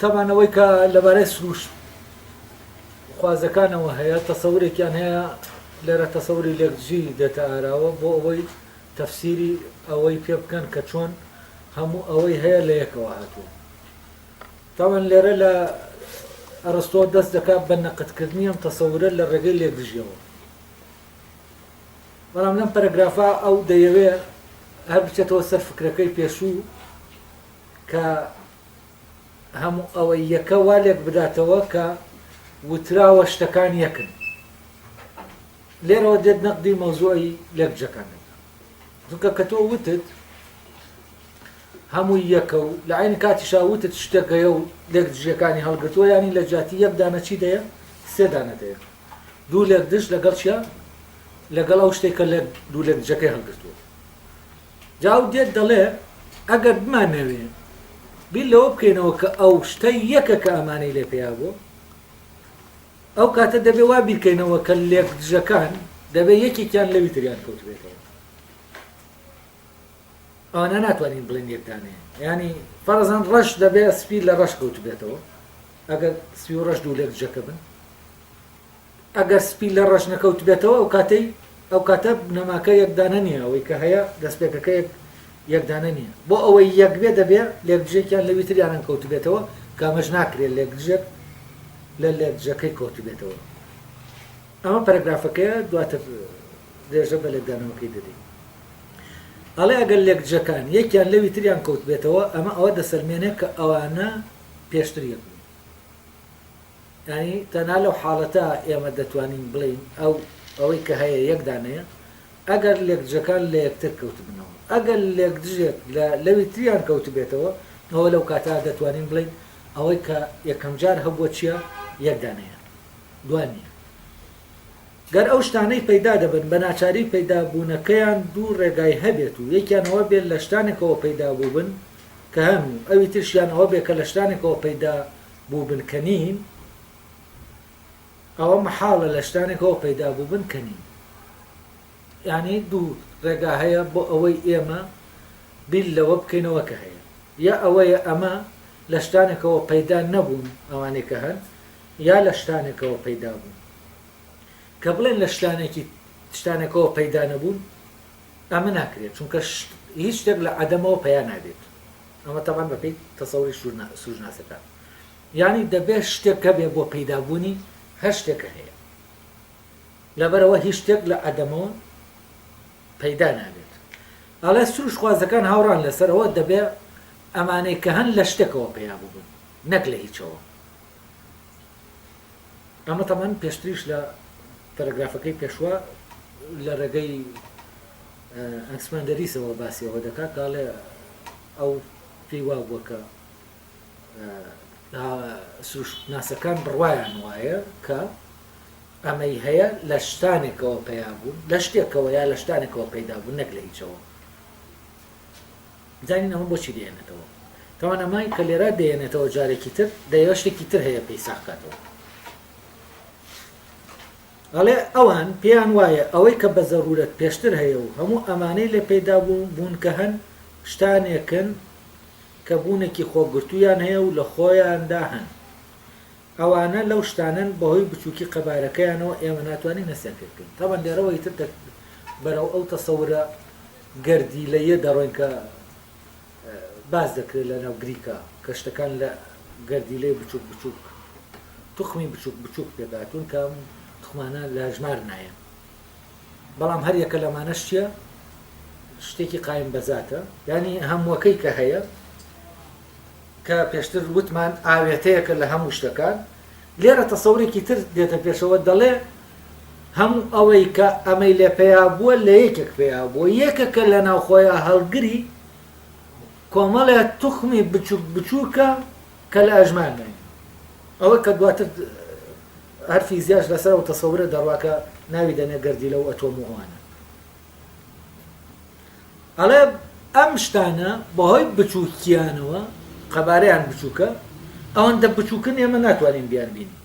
تابان ئەوەی کە لەبارەی سروش خوازەکانەوە هەیە تەسەورێکیان هەیە لێرە تەسەوری لێکدژی دێتە ئاراوە بۆ ئەوەی تەفسیری ئەوەی پێ بکەن کە چۆن هەموو ئەوەی هەیە لە یەکەوە هاتووە تاوان لێرە لە ئەرستۆ دەست دەکات بە نەقدکردنی ئەم تەسەورە لە ڕێگەی لێکدژیەوە. بەڵام لەم پەرەگرافا ئەو دەیەوێ هەر بچێتەوە سەر فکرەکەی پێشوو کە هەموو ئەوەی یەکە وا لێک بداتەوە کە وتراوە شتەکان یەکن. لێرەوە دێت نەقدی مەوزوعی لێکدژەکان دەکات. چونکە کە تۆ وتت هەمووی یەکە و لە عەینی کاتیشا وتت شتێک هەیە و لێک دژیەکانی هەڵگرتووە یانی لە جیاتی یەک دانە چی دەیە سێ دانە دەیە دوو لێک دژ لەگەڵ چیە لەگەڵ ئەو شتێک کە لە دوو لێک دژەکەی هەڵگرتووە جاو دێت دەڵێ ئەگەر بمانەوێ بیر لەوە بکەینەوە کە ئەو شتە یەکە کە ئەمانەی لێ پێیا بوو ئەو کاتە دەبێ وا بیرکەینەوە کە لێک دژەکان دەبێ یەکێکیان لەوی تریان کەوتبێتەوە ئەوانە ناتوانین بڵێن یەک دانەیە ینی فەرزان ڕەش دەبێ سپی لە ڕەش کەوت بێتەوە ئەگەر سپی و ڕەش دوو لێک جەکە بن ئەگەر سپی لە ڕەش نەکەوت بێتەوە ئەو کاتەی ئەو کاتە بنەماکە یەکدانە نییە ئەوەی کە هەیە دەستپێکەکە یەکدانە نییە بۆ ئەوەی یەک بێ دەبێ لێکدژێکیان لەوی تریانن کەوت بێتەوە کامەش ناکرێت لێکدژێک لە لێکدژەکەی کەوت بێتەوە ئەمە پەرگرافەکەیە دواتر درێژە بە لێکدانەوەکەی دەدەین ئەڵێ ئەگەر لێکدژەکان یەکیان لەوی تریان کەوتبێتەوە ئەمە ئەوە دەسەلمێنێ کە ئەوانە پێشتر یەک بوون یانی تەنها لەو حاڵەتە ئێمە دەتوانین بڵێین ئەو ئەوەی کە هەیە یەک دانەیە ئەگەر لێکدژەکان لە یەکتر کەوتبنەوە ئەگەر لێکدژێک لە لەوی تریان کەوتبێتەوە ئەوە لەو کاتا دەتوانین بڵێین ئەوەی کە یەکەم جار هەبووە چییە یەک دانەیە دوای نییە گەر ئەو شتانەی پەیدا دەبن بە ناچاری پەیدا بوونەکەیان دوو ڕێگای هەبێت و یەکیان ئەوە بێت لە شتانێکەوە پەیدا بووبن کە هەن و ئەوی ترشیان ئەوە بێت کە لە شتانێکەوە پەیدا بووبن کە نین ئەوە مەحاڵە لە شتانێکەوە پەیدا بووبن کە نین یعنی دوو ڕێگا هەیە بۆ ئەوەی ئێمە بیر لەوە بکەینەوە کە هەیە یا ئەوەیە ئەمە لە شتانێکەوە پەیدا نەبوون ئەوانەی کە هەن یا لە شتانێکەوە پەیدا بوون؟ کە بڵێن لە شتانێکی شتانێکەوە پەیدا نەبوون، ئەمە ناکرێت، چونکە شت هیچ شتێک لە عەدەمەوە پەیا نابێت، ئەمە تەبعەن بە پێی تەسەوری سوورناسەکان، یانی دەبێت شتێک هەبێت بۆ پەیدا بوونی هەر شتێک کە هەیە، لەبەرئەوە هیچ شتێک لە عەدەمەوە پەیدا نابێت. ئەڵێ سروشتخوازەکان هاوڕان لەسەر ئەوە دەبێت ئەمانەی کە هەن لە شتێکەوە پەیا ببن نەک لە هیچەوە. ئەمە تەمان پێشتریش لە پەرەگرافەکەی پێشوە لە ڕێگەی ئەنسماندەریسەوە باسی ئەوە دەکات داڵێ ئەو پێی وا بووە کە سروشناسەکان بڕوایان وایە کە ئەمەی هەیە لە شتانێکەوە پیا بوون لە شتێکەوە یا لە شتانێکەوە پەیدا بوون نەک لە هیچەوە زانین ئەمە بۆچی دەهێنێتەوە؟ توانەمای کە لێرە دەهێنێتەوە جارێکی تر دەیەوێت شتێکی تر هەیە پێی ساغ کاتەوە. ئەڵێ ئەوان پێیان وایە ئەوەی کە بە زەرورەت پێشتر هەیە و هەموو ئەمانەی لێ پەیدا بوون کە هەن شتانێکن کە بوونێکی خۆگرتوویان هەیە و لە خۆیاندا هەن ئەوانە لەو شتانەن بەهۆی بچوکی قەبارەکەیانەوە ئێمە ناتوانین هەستیان پێ بکەین تەبەن لێرەوە ئیتر دەک بەرەو ئەو تەسەورە گەردیلەییە دەڕۆین کە باس دەکرێت لە ناو گریکا کە شتەکان لە گەردیلەی بچوک بچوک توخمی بچوک بچوک پێکهاتوون کە ئەم توخمانە لە ژمار نایەن بەڵام هەر یەکە لەمانەش چییە شتێکی قایم بەزاتە یانی هەمووەکەی کە هەیە کە پێشتر وتمان ئاوێتەیەکە لە هەموو شتەکان، لێرە تەسەورێکی تر دێتە پێشەوە دەڵێ، هەموو ئەوەی کە ئەمەی لێ پەیا بووە لە یەکێک پەیا بووە، یەکەکە لە ناو خۆیا هەڵگری کۆمەڵێ توخمی بچووک بچووکە کە لە ئەژمار نایەن. ئەوە کە دواتر هەر فیزیاش لەسەر ئەو تەسەورە دەڕوا کە ناوی دەنێ گەردیلە و ئەتۆم و ئەوانە. ئەڵێ ئەم شتانە بەهۆی بچووکییانەوە، قەبارەیان بچووکە، ئەوەندە بچووکن ئێمە ناتوانین بیانبینین،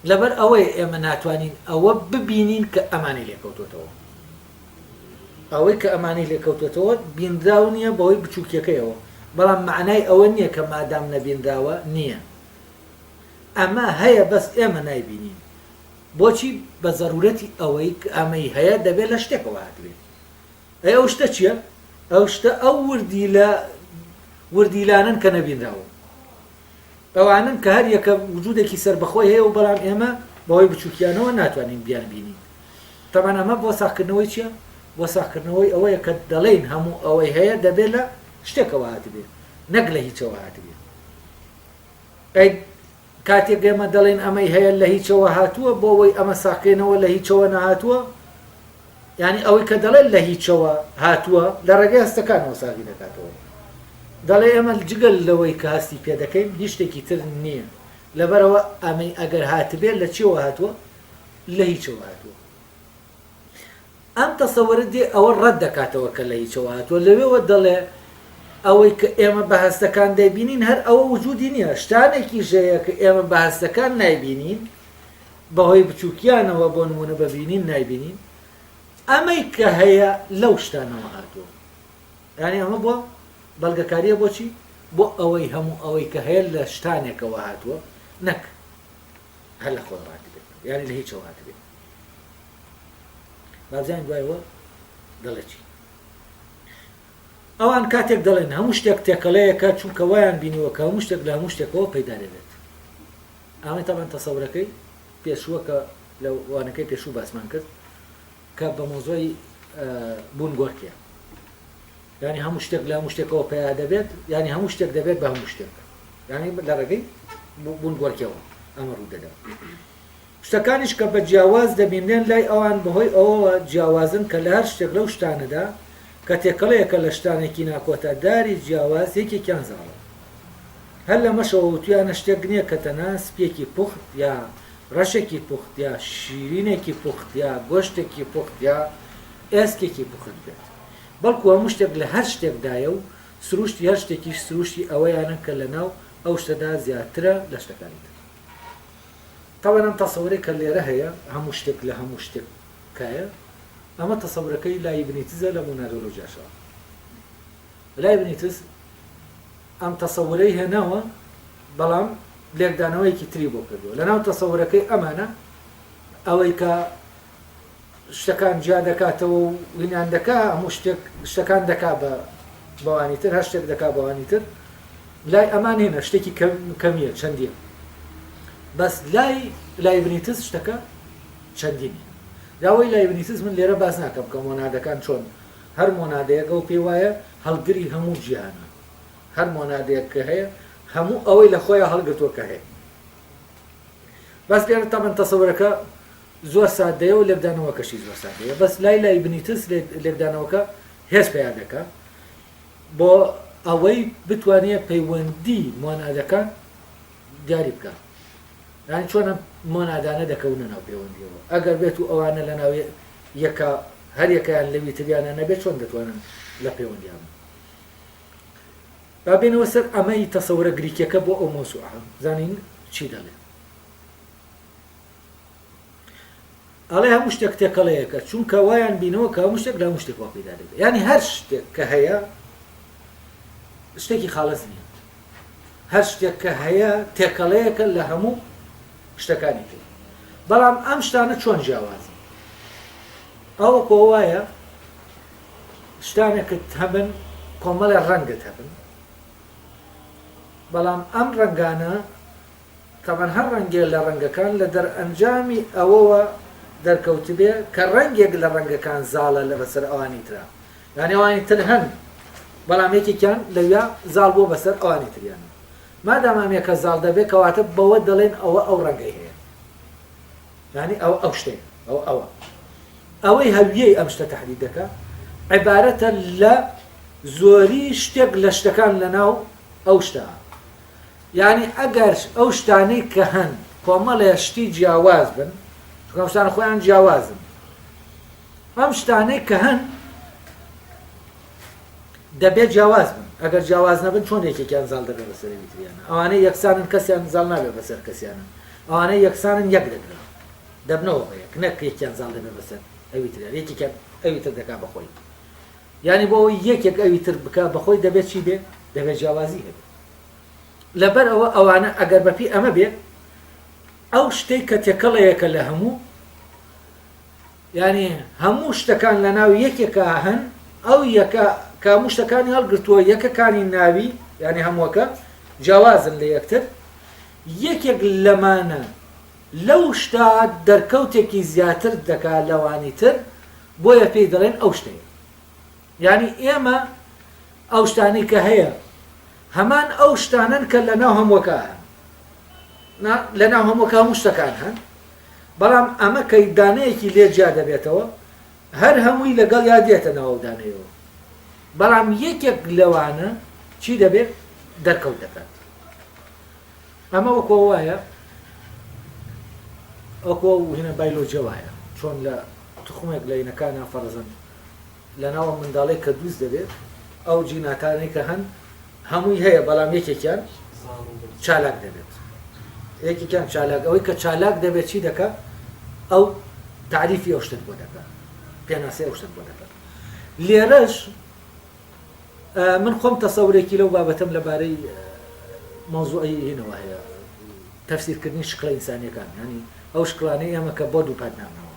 لەبەر ئەوەیە ئێمە ناتوانین ئەوە ببینین کە ئەمانی لێکەوتووەتەوە. ئەوەی کە ئەمانی لێکەوتووەتەوە بینراو نییە بەهۆی بچووکییەکەیەوە، بەڵام مەعنای ئەوە نییە کە مادام نەبینراوە نییە. ئەمە هەیە بەس ئێمە نایبینین. بۆچی بە زەرورەتی ئەوەی ک ئەمەی هەیە دەبێ لە شتێکەوە هاتبێ؟ ئەی ئەو شتە چیە؟ ئەو شتە ئەو وردیلە وردیلانەن کە نەبینراون. ئەوانەن کە هەر یەکە وجودێکی سەربەخۆی هەیە و بەڵام ئێمە بەهۆی بچوکیانەوە ناتوانین بیانبینین. تەبعەن ئەمە بۆ ساغکردنەوەی چیە؟ بۆ ساغکردنەوەی ئەوەیە کە دەڵێین هەموو ئەوەی هەیە دەبێ لە شتێکەوە هاتبێ نەک لە هیچەوە هاتبێ. ئەی کاتێک ئێمە دەڵێین ئەمەی هەیە لە هیچەوە هاتووە، بۆ وەی ئەمە ساقێنەوە لە هیچەوە نەهاتووە، یانی ئەوەی کە دەڵێت لە هیچەوە هاتووە، لە ڕێگەی هەستەکانەوە ساغی دەکاتەوە. دەڵێ ئێمە جگە لەوەی کە هەستی پێ دەکەین، هیچ شتێکی تر نییە، لەبەرئەوە ئەمەی ئەگەر هاتبێت لە چییەوە هاتووە؟ لە هیچەوە هاتووە. ئەم تەسەورە دێ ئەوە ڕەت دەکاتەوە کە لە هیچەوە هاتووە، لەوێوە دەڵێ، ئەوەی کە ئێمە بە هەستەکان دەیبینین هەر ئەوە وجودی نییە، شتانێکیش هەیە کە ئێمە بە هەستەکان نایبینین، بەهۆی بچووکیانەوە، بۆ نموونە بە بینین نایبینین، ئەمەی کە هەیە لەو شتانەوە هاتووە. یانی ئەمە بۆ بەڵگەکارییە بۆچی؟ بۆ ئەوەی هەموو ئەوەی کە هەیە لە شتانێکەوە هاتووە، نەک هەر لە خۆیەوە هاتبێت یانی لە هیچەوە هاتبێت بابزانین دوایەوە دەڵێ چی ئەوان کاتێک دەڵێن هەموو شتێک تێکەڵەیەەکە چونکە وایان بینیوە کە هەموو شتێک لە هەموو شتێکەوە پەیدا دەبێت ئەمە تاوان تەسەورەکەی پێشووە کە لە وانەکەی پێشوو باسمان کرد کە بە مۆزۆی بوون گۆرکێ یانی هەموو شتێک لە هەموو شتێکەوە پەیا دەبێت یانی هەموو شتێک دەبێت بە هەموو شتێک یانی لە ڕێگەی بونگۆرکیەوە ئەمە ڕوو دەدات شتەکانیش کە بە جیاواز دەبینرێن لای ئەوان بەهۆی ئەوەوە جیاوازن کە لە هەر شتێک لەو شتانەدا کە تێکەڵەیەکە لە شتانێکی ناکۆتا داری جیاواز یەکێکیان زاڵە هەر لەمەشەوە وتویانە شتێک نییە کە تەنها سپیەکی پوخت یا ڕەشێکی پوخت یا شیرینێکی پوخت یا گۆشتێکی پوخت یا ئێسکێکی پوخت بێت بەڵکو هەموو شتێک لە هەر شتێکدایە و سرووشتی هەر شتێکیش سرووشتی ئەوەیانە کە لەناو ئەو شتەدا زیاترە لە شتەکانی تر. تاوان ئەم تەسەورەی کە لێرە هەیە، هەموو شتێک لە هەموو شتێک کایە، ئەمە تەسەورەکەی لایبنیتزە لە مۆنادۆلۆژیاشەوە. لایبنیتز ئەم تەسەورەی هێناوە، بەڵام لێکدانەوەیەکی تری بۆ کردووە. لەناو تەسەورەکەی ئەمانە ئەوەی کە شتەکان جیا دەکاتەوە و وینان دەکا هەموو شتێک شتەکان دەکا بە بەوانی تر هەر شتێک دەکا بەوانی تر لای ئەمان هێنە شتێکی کەمیە چەندیە بەس لای لای بنیتز شتەکە چەندینی داوای لای بنیتز من لێرە باز ناکەم کە مۆنادەکان چۆن هەر مۆنادەیەگە و پێی وایە هەڵگری هەموو جیهانە هەر مۆنادەیەک کە هەیە هەموو ئەوەی لە خۆیان هەڵگرتووە کە هەیە بەس لێرە تەمەن تەسەورەکە زۆر سادەیە و لێکدانەوەکەشی زۆر سادەیە بەس لای لایبنیتس لێکدانەوەکە هێز پەیا دەکا بۆ ئەوەی بتوانێ پەیوەندی مۆنادەکان دیاری بکا یان چۆن ئەم مۆنادانە دەکەونە ناو پەیوەندیەوە ئەگەر بێت و ئەوانە لە ناوێ یەکە هەر یەکەیان لەوی تریانە نەبێت چۆن دەتوانن لە پەیوەندیان با بێنەوە سەر ئەمەی تەسەورە گریکیەکە بۆ ئەو مۆسوعە زانین چی دەڵێت ئەڵێ هەموو شتێک تێکەڵەیەکە چونکە وایان بینەوە کە هەموو شتێک لە هەموو شتێکەوە پێدا دەبێت ینی هەر شتێک کە هەیە شتێکی خاڵەز نیە هەر شتێک کە هەیە تێکەڵەیەکە لە هەموو شتەکانی تر بەڵام ئەم شتانە چۆن جیاوازن ئەو کۆ وایە شتانێکت هەبن کۆمەڵە ڕەنگت هەبن بەڵام ئەم ڕەنگانە تەمەن هەر ڕەنگێ لە ڕەنگەکان لە دەرئەنجامی ئەوەوە دەرکەوتبێ کە ڕەنگێک لە ڕەنگەکان زاڵە لە بەسەر ئەوانی ترا یانی ئەوانی تر هەن بەڵام یەکێکیان لەویا زاڵ بووە بەسەر ئەوانی تریان مادام ئەم یەکە زاڵ دەبێ کەواتە بەوە دەڵێن ئەوە ئەو ڕەنگەی هەیە یانی ئەو ئەو شتێ ئەو ئەوە ئەوەی هەویەی ئەم شتە تهدید دەکە عبارەتە لە زۆری شتێک لە شتەکان لەناو ئەو شتە یانی ئەگەر ئەو شتانەی کە هەن کۆمەڵێ شتی جیاواز بن، چونکە ئەم شتانە خۆیان جیاوازن، ئەم شتانەی کە هەن دەبێت جیاواز بن، ئەگەر جیاواز نەبن چۆن یەکێکیان زاڵ دەبێت بەسەر ئەوی تریانە؟ ئەوانەی یەکسانن کەسیان زاڵ نابێت بەسەر کەسیانە، ئەوانەی یەکسانن یەک دەگرن، دەبنەوە بە یەک، نەک یەکیان زاڵ دەبێت بەسەر ئەوی تریان، یەکێکیان ئەوی تر دەکات بە خۆی. یانی بۆ ئەوەی یەکێک ئەوی تر بکات بە خۆی دەبێت چی بێت؟ دەبێت جیاوازی هەبێت. لەبەر ئەوە ئەوانە ئەگەر بەپێی ئەمە بێت ئەو شتەی کە تێکەڵەیەکە لە هەموو یعنی هەموو شتەکان لە ناو یەکێکا هەن ئەو یەکە کاموو شتەکانی هەڵگرتووە یەکەکانی ناوی یعنی هەمووەکە جیاوازن لە یەکتر یەکێک لەمانە لەو شتا دەرکەوتێکی زیاتر دەکا لەوانی تر بۆیە پێی دەڵێن ئەو شتەیە یانی ئێمە ئەو شتانەی کە هەیە هەمان ئەو شتانەن کە لە ناو هەمووەکە هەن نا لە ناو هەمووەکە هەموو شتەکان هەن بەڵام ئەمە کە دانەیەکی لێ جیا دەبێتەوە هەر هەمووی لەگەڵ یا دێتە ناو دانەیەوە بەڵام یەکێک لەوانە چی دەبێت دەرکەوت دەکات ئەمە وەکۆ وایە ئەوکۆ هینە بایلۆجە وایە چۆن لە تخمێک لە ینەکانە فەرزند لەناو ئەم منداڵەی کە دروست دەبێت ئەو جیناتانەی کە هەن هەمووی هەیە بەڵام یەکێکیان چالاک دەبێت یەکێکیان چالاک ئەوەی کە چالاک دەبێت چی دەکە ئەو تعریفی ئەو شتت بۆ دەکە پێناسی ئەو شتت بۆ دەکە لێرەش من خۆم تەسەورێکی لەو بابەتم لەبارەی مەوزوعی هینەوە هەیە تەفسیرکردنی شکڵە ئینسانیەکان ینی ئەو شکلانەی ئێمە کە بۆ دووپات نامنەوە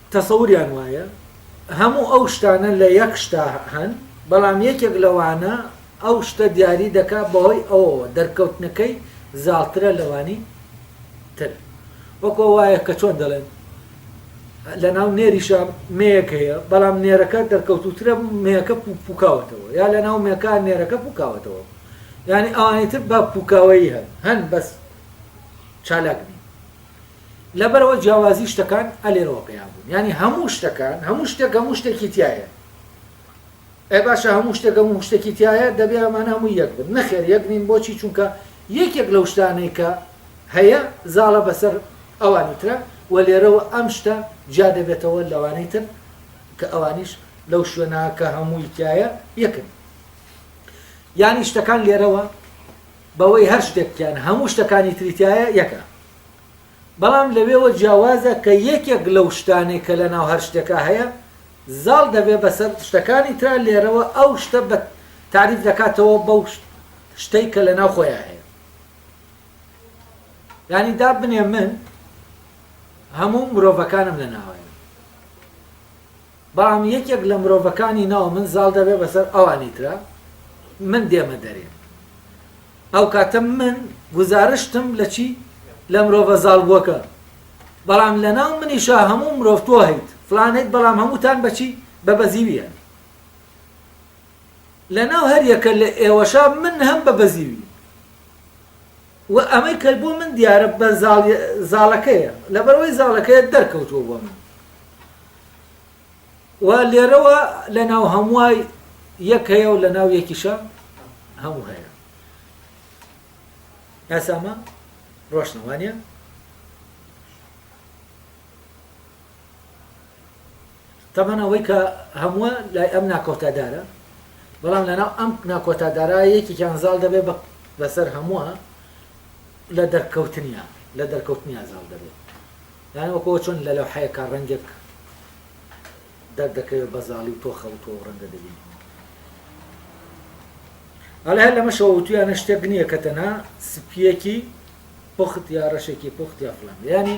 تەسەوریان وایە هەموو ئەو شتانە لە یەک شتا هەن، بەڵام یەکێک لەوانە ئەو شتە دیاری دەکات بەهۆی ئەوەوە دەرکەوتنەکەی زاڵترە لەوانی تر. وەکو وایە کە چۆن دەڵێن لە ناو نێریشا مێیەک هەیە، بەڵام نێرەکە دەرکەوتووترە مێیەکە پووکاوەتەوە، یا لە ناو مێکا نێرەکە پووکاوەتەوە. یانی ئەوانی تر بە پووکاوەیی هەن، هەن بەس چالاک نین. لەبەرئەوە جیاوازی شتەکان ئەلێرەوە پەیا بوون یانی هەموو شتەکان هەموو شتێک هەموو شتێکی تیایە ئەی باشە هەموو شتێک هەموو شتێکی تیایە دەبێ ئەمانە هەموو یەک بن نەخێر یەک نین بۆچی چونکە یەکێک لەو شتانەی کە هەیە زاڵە بەسەر ئەوانی ترە و لێرەوە ئەم شتە جیا دەبێتەوە لەوانەی تر کە ئەوانیش لەو شوێنە کە هەمووی تایە یەکن یانی شتەکان لێرەوە بەوەی هەر شتێکیان هەموو شتەکانی تریتایە یەکە بەڵام لەوێوە جیاوازە کە یەکێک لەو شتانەی کە لەناو هەر شتێکا هەیە زاڵ دەبێت بەسەر شتەکانی ترا لێرەوە ئەو شتە بە تاریف دەکاتەوە بەو شتەی کە لەناو خۆیان هەیە یعنی دا بنێ من هەموو مرۆڤەکانم لە ناوایە بەڵام یەکێک لە مرۆڤەکانی ناو من زاڵ دەبێت بەسەر ئەوانی ترا، من دێمە دەرێ. ئەو کاتە من گوزارشتم لە چی؟ لە مرۆڤە زاڵبووەکە. بەڵام لە ناو منیشا هەموو مرۆڤ تۆ هەیت، فڵان هەیت بەڵام هەمووتان بە چی؟ بە بەزیوییان. لە ناو هەر یەکە لە ئێوەشا من هەم بە بەزیوی. و ئەمەی کە بۆ من دیارە بە زاڵ، زاڵەکەیە. لەبەرئەوەی زاڵەکەیە دەرکەوتووە بۆ من. و لێرەوە لەناو هەمووای یەک هەیە و لەناو یەکیشە هەموو هەیە یاسامە ڕۆشنەوانە تەمان ئەوەی کە هەمووە لای ئەم ناکۆتادارە بەڵام لەناو ئەم ناکۆتادارا یەکێکیان زاڵ دەبێت بە لەسەر هەمووە لە دەرکەوتنیان لە دەرکەوتنیان زاڵ دەبێت یانی وەکو ئەوە چۆن لە لەوحەیەکا ڕەنگێک دەردەکەوێ بە زاڵی و تۆ خەوتووە و ڕەنگە دەبینی. ئەڵێ هەر لەمەشەوە وتویانە شتێک نییە کە تەنها سپییەکی پوخت یا ڕەشێکی پوخت یا فڵان بێ. یانی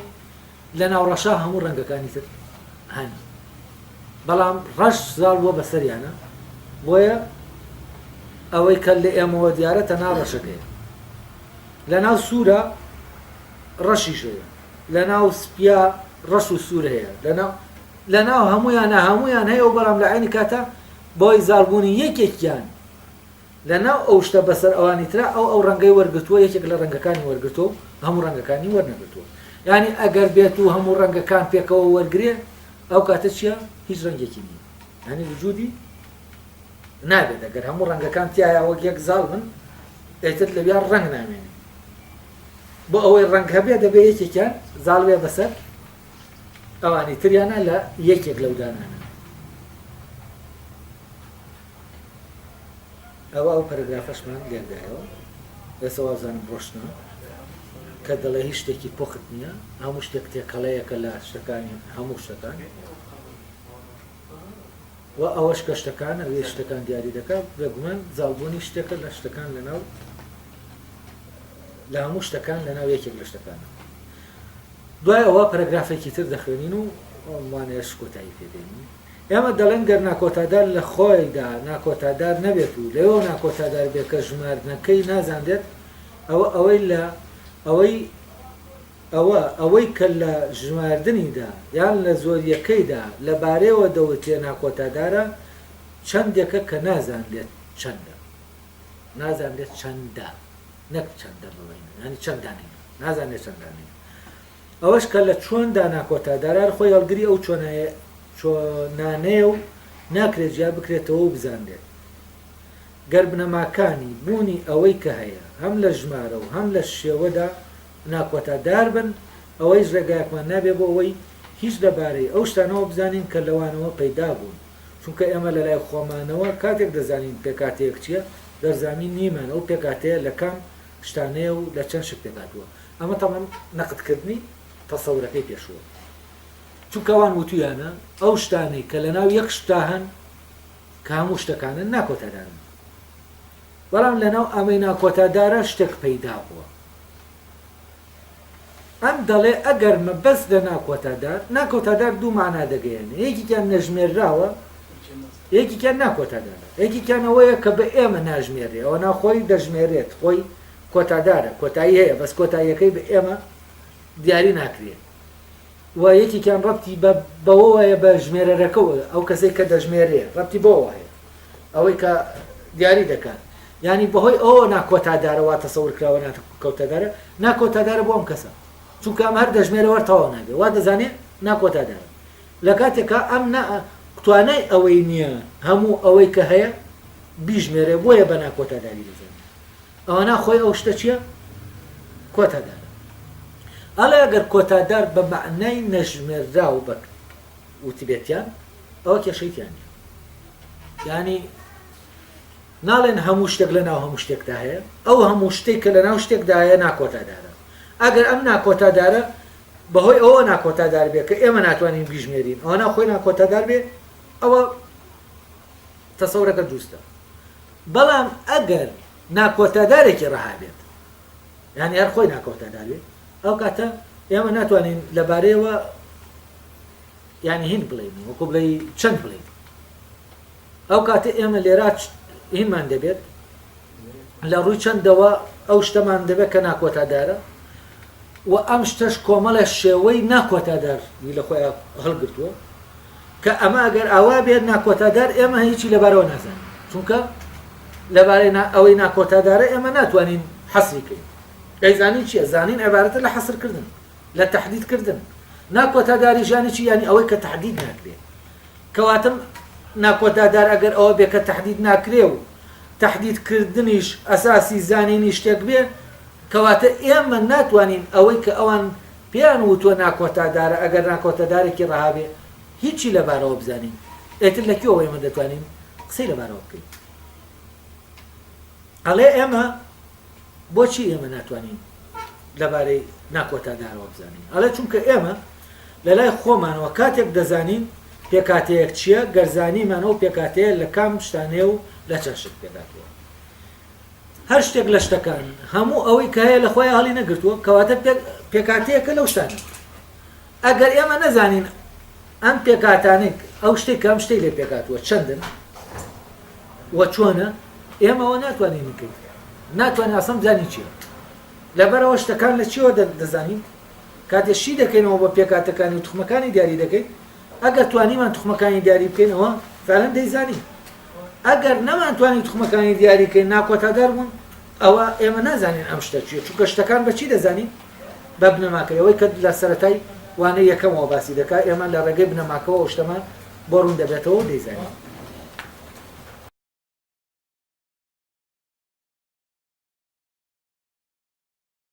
لە ناو ڕەشا هەموو ڕەنگەکانی تر هەن. بەڵام ڕەش زاڵ بووە بەسەریانە بۆیە ئەوەی کە لە ئێمەوە دیارە تەنها ڕەشەکەیە. لە ناو سوورە ڕەشیش هەیە. لەناو سپیا ڕەش و سور هەیە لەناو لەناو هەمویانە هەمویان هەیە و بەڵام لە عینی کاتا بەوەی زاڵ بوونی یەکێکیان لەناو ئەو شتە بەسەر ئەوانی ترا ئەو ئەو ڕەنگەی وەرگرتووە یەکێک لە ڕەنگەکانی وەرگرتووە و هەموو ڕەنگەکانی وەرنەگرتووە یعنی ئەگەر بێت و هەموو ڕەنگەکان پێکەوە وەرگێ ئەو کاتە چیە هیچ ڕەنگێکی نییە ینی وجودی نابێت ئەگەر هەموو ڕەنگەکان تایە وەک یەک زاڵ من ئێتر لەویا ڕەنگ نامێنێ بۆ ئەوەی ڕەنگ هەبێ دەبێ یەکێکیان زاڵ بێ بەسەر ئەوانی تریانە لە یەکێک لەو دانانە ئەوە ئەو پەرگرافەشمان لێدایەوە ئێستا وازانم ڕۆشتنا کە دەڵێ هیچ شتێکی پۆخت نییە هەموو شتێک تێکەڵەیەکە لە شتەکانی هەموو شتەکان وە ئەوەش کە شتەکان ئەوێ شتەکان دیاری دەکا بێگومان زاڵبوونی شتێکە لە شتەکان لەناو لە هەموو شتەکان لەناو یەکێک لە شتەکانە دوای ئەوە پەرەگرافێکی تر دەخوێنین و ئەمانەش کۆتایی پێدێنین ئێمە دەڵێن گەر ناکۆتادار لە خۆیدا ناکۆتادار نەبێت و لەوێ ناکۆتادار بێت کە ژماردنەکەی نازانرێت ئەوە ئەوەی لە ئەوەی ئەوە ئەوەی کە لە ژماردنیدا یان لە زۆرییەکەیدا لە بارەیەوە دەوترێ ناکۆتادارە، چەندێکە کە نازانرێت چەندە. نازانرێت چەندە، نەک چەندە بڵێین، یانی چەند دانەیە، نازانرێت چەند دانەیە. ئەوەش کە لە چۆندا ناکۆتادارە، هەر خۆی هەڵگری ئەو چۆنانەیە و ناکرێت جیا بکرێتەوە و بزانرێت. گەر بنەماکانی بوونی ئەوەی کە هەیە هەم لە ژمارە و هەم لە شێوەدا ناکۆتا دار بن، ئەوەیش ڕێگایەکمان نابێت بۆ ئەوەی هیچ لە بارەی ئەو شتانەوە بزانین کە لەوانەوە پەیدا بوون، چونکە ئێمە لە لای خۆمانەوە کاتێک دەزانین پێکهاتەیەک چییە، دەرزامی نیمان ئەو پێکهاتەیە لە کام شتانەیە و لە چەند شت پێکهاتووە. ئەمە تەبعەن نەقدکردنی تەسەورەکەی پێشووە، چونکە ئەوان وتوویانە ئەو شتانەی کە لە ناو یەک شتدا هەن کە هەموو شتەکانن ناکۆتا دارن، بەڵام لە ناو ئەمەی ناکۆتا دارە شتێک پەیدا بووە، ئەم دەڵێ ئەگەر مەبەست لە ناکۆتادار، ناکۆتادار دوو مانا دەگەیەنێ، یەکێکیان نەژمێرراوە، یەکێکیان ناکۆتادارە. یەکێکیان ئەوەیە کە بە ئێمە ناژمێررێ، ئەوەنا خۆی دەژمێرێت، خۆی کۆتادارە، کۆتایی هەیە، بەس کۆتاییەکەی بە ئێمە دیاری ناکرێ. و یەکێکیان ڕەبتی بە بەوەوە هەیە بە ژمێرەرەکە و ئەو کەسەی کە دەژمێرێ ڕەبتی بەوەوە هەیە ئەوەی کە دیاری دەکات یانی بەهۆی ئەوە ناکۆتادارە وا تەسەور کراوە ناکۆتادارە ناکۆتادارە بۆ ئەم کەسە چونکە ئەم هەر دەژمێرە وەر تەواو نابێ وا دەزانێ ناکۆتادارە لە کاتێکا ئەم نا توانای ئەوەی نییە هەموو ئەوەی کە هەیە بیژمێرێ بۆیە بە ناکۆتاداری دەزانێ ئەوەنا خۆی ئەو شتە چیە کۆتا دارە. ئەڵێ ئەگەر کۆتا دار بە مەعنای نەژمێرراو بەک وتبێتیان ئەوە کێشەی تیا نیە. یانی ناڵێن هەموو شتێک لە ناو هەموو شتێکدا هەیە، ئەو هەموو شتێک کە لە ناو شتێکدا هەیە ناکۆتا دارە. ئەگەر ئەم ناکۆتا دارە بە هۆی ئەوە ناکۆتا دار بێ کە ئێمە ناتوانین بیژمێرین ئەوەنا خۆی ناکۆتا دار بێ ئەوە تەسەورەکە دروستە بەڵام ئەگەر ناکۆتادارێکی ڕەها بێت یانی هەر خۆی ناکۆتادار بێت ئەو کاتە ئێمە ناتوانین لەبارەیەوە یعنی هین بڵین وەکو بڵێ چەند بڵین ئەو کاتە ئێمە لێرا هینمان دەبێت لە ڕووی چەندەوە ئەو شتەمان دەبێت کە ناکۆتادارە و ئەم شتەش کۆمەڵە شێوەی ناکۆتادار وی لە خۆیان هەڵگرتووە کە ئەمە ئەگەر ئاوا بێت ناکۆتادار ئێمە هیچی لەبارەوە نازانین چونکە لەبارەی ئەوەی ناکۆتادارە ئێمە ناتوانین حەسری کەین ئەیزانین چیە زانین عبارەتە لە حەسرکردن لە تهدیدکردن ناکۆتاداری ژانی چی ینی ئەوەی کە تهدید ناکرێت کەواتم ناکۆتا دار ئەگەر ئەوە بێ کە تەحدید ناکرێ و تەحدید کردنیش ئەساسی زانینی شتێک بێ کەواتە ئێمە ناتوانین ئەوەی کە ئەوان پێیان وتوە ناکۆتا دارە ئەگەر ناکۆتا دارێکی ڕەها بێ هیچی لە بارەوە بزانین ئێتر لە کوێوە ئێمە دەتوانین قسەی لە بارەوە بکەین ئەڵێ ئێمە بۆچی ئێمە ناتوانین لەبارەی ناکۆتا دارەوە بزانین ئەڵێ چونکە ئێمە لەلای خۆمانەوە کاتێک دەزانین پێکهاتەیەک چییە، گەر زانیمان ئەو پێکهاتەیە لە کام شتانەیە و لە چەند شت پێکهاتووە. هەر شتێک لە شتەکان، هەموو ئەوەی کە هەیە لە خۆیان هەڵی نەگرتووە، کەواتە پێکهاتەیەکە لەو شتانە. ئەگەر ئێمە نەزانین ئەم پێکهاتانەی، ئەو شتەی کە ئەم شتەی لێ پێکهاتووە چەندن و چۆنە، ئێمە ئەوە ناتوانین بکەین، ناتوانین ئەسڵەن بزانین چییە. لەبەرئەوە شتەکان لە چییەوە دەزانین؟ کاتێ شی دەکەینەوە بە پێکهاتەکانی و توخمەکانی دیاری دەکەین، ئەگەر توانیمان توخمەکانی دیاری بکەین ئەوە فعلەن دەیزانین، ئەگەر نەمانتوانی توخمەکانی دیاری کەین ناکۆتادار بوون ئەوە ئێمە نازانین ئەم شتە چیە چونکە شتەکان بە چی دەزانین بە بنەماکەی ئەوەی کە لە سەرەتای وانەی یەکەمەوە باسی دەکا ئێمە لە ڕێگەی بنەماکەوە ئەو شتەمان بۆ ڕوون دەبێتەوە و دەیزانین.